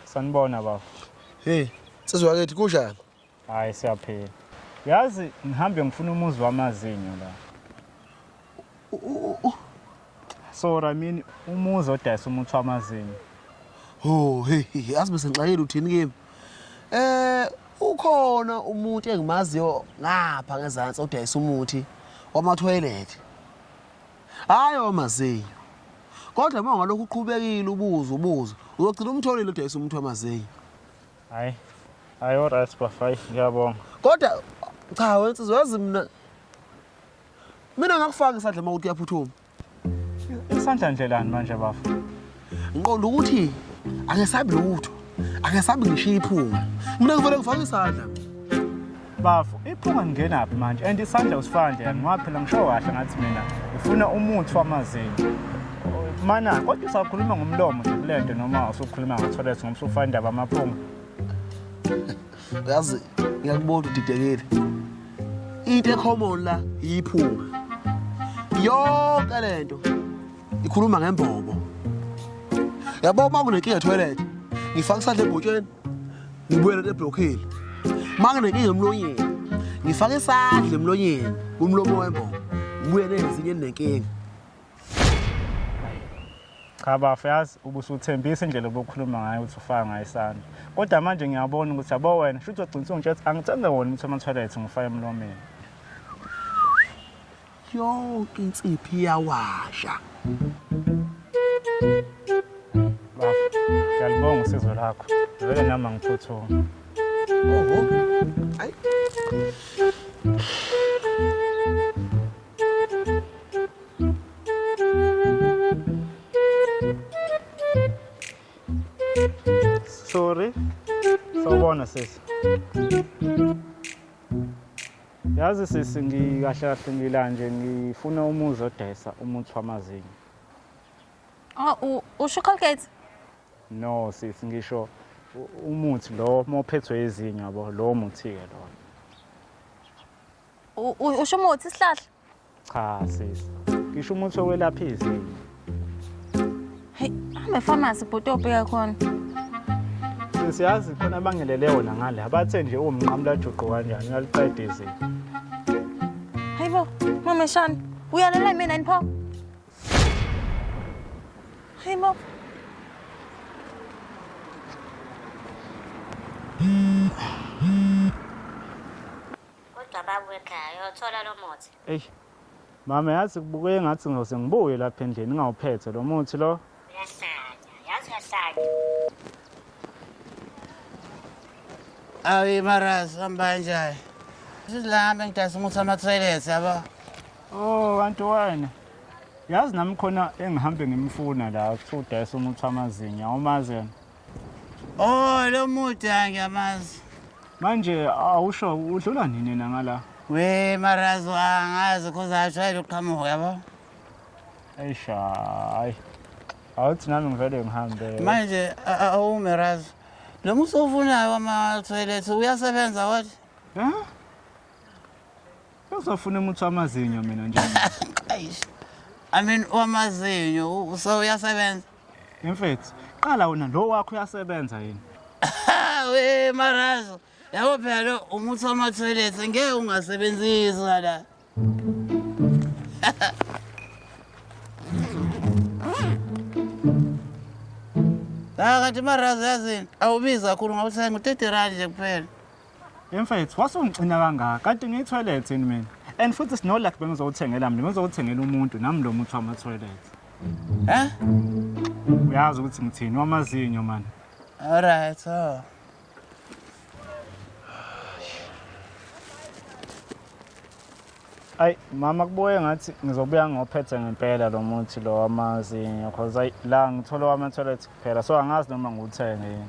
sanibona baba hey sizwakethi kunjani hayi siyaphila yazi ngihambe ngifuna umuzi wamazinyo la so ramini umuzi odayisa umuthi wamazinyo ho hey yazi bese ngixakile uthini kimi eh ukhona umuntu engimaziyo ngapha ngezantsi odayisa umuthi wamathoyilethi hhayi wamazinyo kodwa uma ungalokhu uqhubekile ubuze ubuze uzogcina umtholile odayisa umuthi wamazinyo hhayi hhayi oryt bafai ngiyabonga kodwa cha wensizi wazi mna Mina ngakufaka isandla uma ukuthi uyaphuthuma. Isandla ndlelani manje bafo? Ngiqonda ukuthi angesabi lutho. Angesabi ngishiya iphunga. Mina ngivele ngifake isandla. Bafo, iphunga ngingena phi manje? And isandla usifaka nje yani ngoba phela ngisho kahle ngathi mina ufuna umuthi wamazinyo. Mana, kodwa usakhuluma ngomlomo nje kulento noma usukhuluma ngotholethi ngoba usufana indaba amaphunga. uyazi ngiyakubona udidekile into ecommon la yiphunga yonke le nto ikhuluma ngembobo yabo uma kunenkinga etoilet ngifaka isandla ebhotsheni ngibuyele eblokhile uma kunenkinga emlonyeni ngifaka isandla emlonyeni umlomo wembobo ngibuye nezinye enenkinga cha bafo yazi ubusuthembisa indlela obukhuluma ngayo ukuthi ufaka ngayo isandla kodwa manje ngiyabona ukuthi yabo wena shuthi ogcinisa ungitshe ukuthi angithenge wona umuthi wamathoyilethi ngifake emlomeni yonke insiphi iyawasha bafo ngiyalibonga usizo lakho vele nami angiphuthuma oho ayi Sorry. Sawubona sisi. Yazi sisi ngikahle kahle ngila nje ngifuna umuzi odayisa umuthi wamazinyo. Ah u- usho Colgate? No sisi ngisho u- umuthi lo mophethwe izinyo yabo lo muthi ke lo. U- u- usho umuthi isihlahla cha sisi ngisho umuthi okwelapha izinyo heyi hamba efamasi bhuti obheka khona sisi yazi khona abangelele wona ngale abathe nje uwumnqamulajuqu kanjani uyaliqeda izinyo hayi bo mameshana uyalela mina yini pho hayi bo Kodwa babu ekhaya uyothola lo muthi. Eish. Mama yazi kubukeke ngathi ngose ngibuye lapha endlini ngawuphethe lo muthi lo. Uyahlanya, yazi uyahlanya. Ayi maras hamba njani? Sizilamba ngidayisa umuthi ama-toilet yabo. Oh kanti wena. Yazi nami khona engihambe ngimfuna la kuthiwa udayisa umuthi wamazinyo awumazi yena. Oh lo mude angiyamazi. Manje awusho udlula nini na ngala? We marazo angazi cause I tried to come over yabo. Ayisha hayi. Awuthi nami ngivele ngihambe. Manje awume razo. Lo muso ufunayo ama toilet uyasebenza wathi? Huh? Uzofuna umuthi wamazinyo mina nje. Eish. I mean wamazinyo u- u- so uyasebenza. Mfethu, qala wena lo wakho uyasebenza yini? We marazo. Yabo phela lo umuthi wama toilet ngeke ungasebenzisa la. Ah kanti marazo yazini awubiza kakhulu ngawuthenga u-30 rand nje kuphela. Mfethu wasungixina kangaka kanti ngiyithoilet yini mina and futhi sinolak bengizowuthengela mina bengizowuthengela umuntu nami lo muthi wama-toilet Eh? uyazi ukuthi ngithini wamazinyo mani Alright. Oh. ayi mama kubuye ngathi ngizobuya ngophethe ngempela lo muthi lo wamazinyo cause ayi la ngithole wama-toilet kuphela so angazi noma ngiwuthenge yini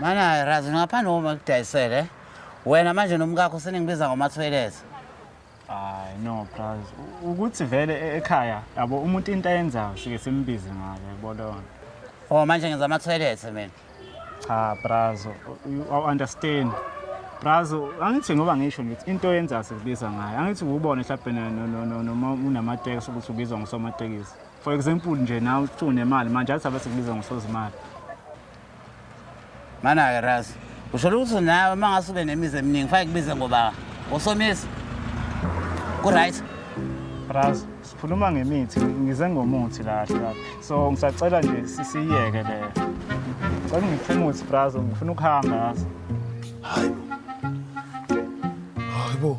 Mana razi ngaphandle uma kudayisele wena manje nomkakho seningibiza ngomathoyilethi hayi no braz ukuthi vele e- ekhaya yabo umuntu into ayenzayo sike simbize ngayo yabo leyo nto o Oh, manje ngenza amathoyilethi mina cha braz awu-understand braz angithi ngoba ngisho ngithi into oyenzayo sikubiza ngayo angithi kuwubona hlabhena noma unamatekisi ukuthi ubizwa ngusomatekisi for example nje nawe uthi unemali manje athi abe sikubiza ngosozimali Mana-ke Ras, usholo ukuthi nawe uma ngase ube nemizi eminingi fanele kubize ngoba usomisi. Ku-right. Raz, sikhuluma ngemithi, ngize ngomuthi la hla. So ngisacela nje sisiyeke le. Cela ngifuna umuthi Brazo, ngifuna ukuhamba yazi. Hayi bo.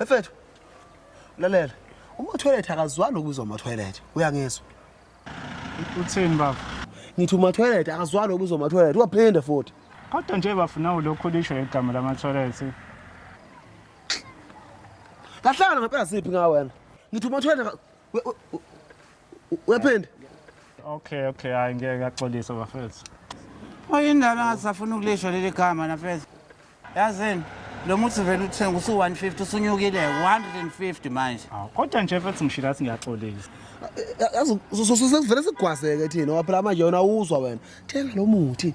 Efethu. Lalela. Uma toilet akazwani ukuzwa ama toilet. Uyangizwa. Uthini baba? Ngithi uma toilet akazwani ukuzwa ama toilet. Uyaphinde futhi. Kodwa nje bafuna ulokho lisho igama lama toilet. Kahlala ngempela siphi ngawe wena? Ngithi uma toilet Uyaphinda? Okay, okay, hayi ngeke ngaxolisa bafethu. Oyindaba ngasafuna ukulishwa leli gama nafethu. Yazini? Lo muthi vele uthenga usu 150 usunyukile 150 manje. Aw, kodwa nje mfethu ngishilo athi ngiyaxolisa. Yazi sesivele sigwazeke thina waphela manje yona awuzwa wena. Thenga lo muthi.